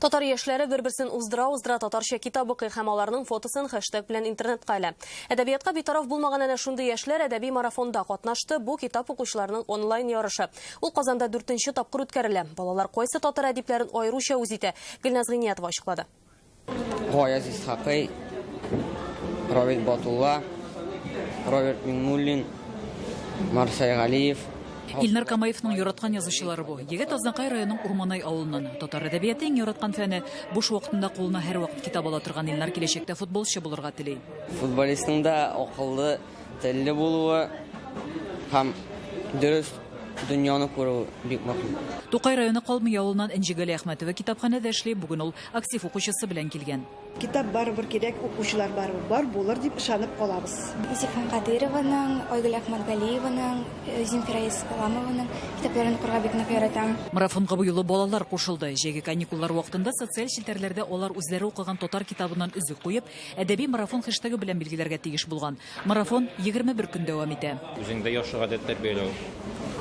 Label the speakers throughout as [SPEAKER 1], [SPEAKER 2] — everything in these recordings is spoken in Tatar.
[SPEAKER 1] Татар яшьләре бер-берсен уздыра-уздыра татарча китап укый һәм аларның фотосын хэштег белән интернетка элә. Әдәбиятка битараф булмаган әнә шундый яшьләр әдәби марафонда катнашты, бу китап укучыларның онлайн ярышы. Ул Казанда дүртенче тапкыр үткәрелә. Балалар кайсы татар әдипләрен аеруча үз итә? Гөлназ Гыйниятова ачыклады. Гаяз
[SPEAKER 2] Исхакый, Равил Батулла, Роберт Миңнуллин, Марсель Галиев, Илнар Камаевның
[SPEAKER 3] яраткан язучылары бу. Егет Азнакай районының Урманай авылыннан. Татар әдәбияты иң яраткан фәне. Буш вакытында кулына һәрвакыт китап ала торган Илнар киләчәктә футболчы булырга тели. Футболистның да
[SPEAKER 2] акыллы, телле булуы һәм дөрес дөньяны күрүе бик мөһим. Тукай районы Калмый
[SPEAKER 3] авылыннан Энҗегали Әхмәтова китапханәдә эшли, бүген ул актив укучысы белән килгән. Китап барыбер
[SPEAKER 4] кирәк, укучылар барыбер бар булыр дип ышанып калабыз. Зифан
[SPEAKER 5] Кадыйрованың, Айгөл Әхмәтгалиеваның, Земфира Исламованың китапларын укырга бик нык яратам. Марафонга бу юлы
[SPEAKER 3] балалар кушылды. Җәйге каникуллар вакытында социаль челтәрләрдә алар үзләре укыган татар китабыннан өзек куеп, әдәби марафон хештегы белән билгеләргә тиеш булган. Марафон егерме бер көн дәвам итә. Үзеңдә яхшы гадәт
[SPEAKER 6] тәрбияләү.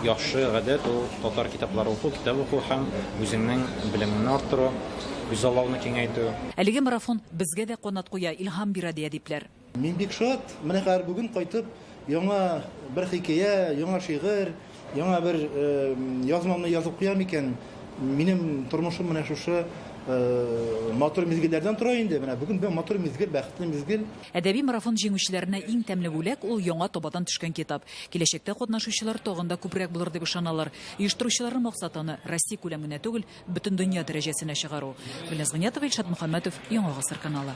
[SPEAKER 6] Яхшы гадәт ул, татар китаплары уку, китап уку һәм үзеңнең белемеңне арттыру, күзаллауны киңәйтү. Әлеге марафон
[SPEAKER 3] безгә дә канат куя, илһам бирә, ди әдипләр. Мин бик шат,
[SPEAKER 7] менә хәзер бүген кайтып, яңа бер хикәя, яңа шигырь, Яңа бер язмамны язып куям икән, минем тормышым менә шушы матур мизгелләрдән тора инде. Менә бүген бер матур мизгел, бәхетле мизгел. Әдәби марафон
[SPEAKER 3] җиңүчеләренә иң тәмле бүләк, ул яңа табадан төшкән китап. Киләчәктә катнашучылар тагын да күбрәк булыр дип ышаналар. Оештыручыларның максаты аны Россия күләм генә түгел, бөтендөнья дәрәҗәсенә чыгару. Гөлназ Гыйниятова, Илшат Мөхәммәтов, Яңа гасыр каналы.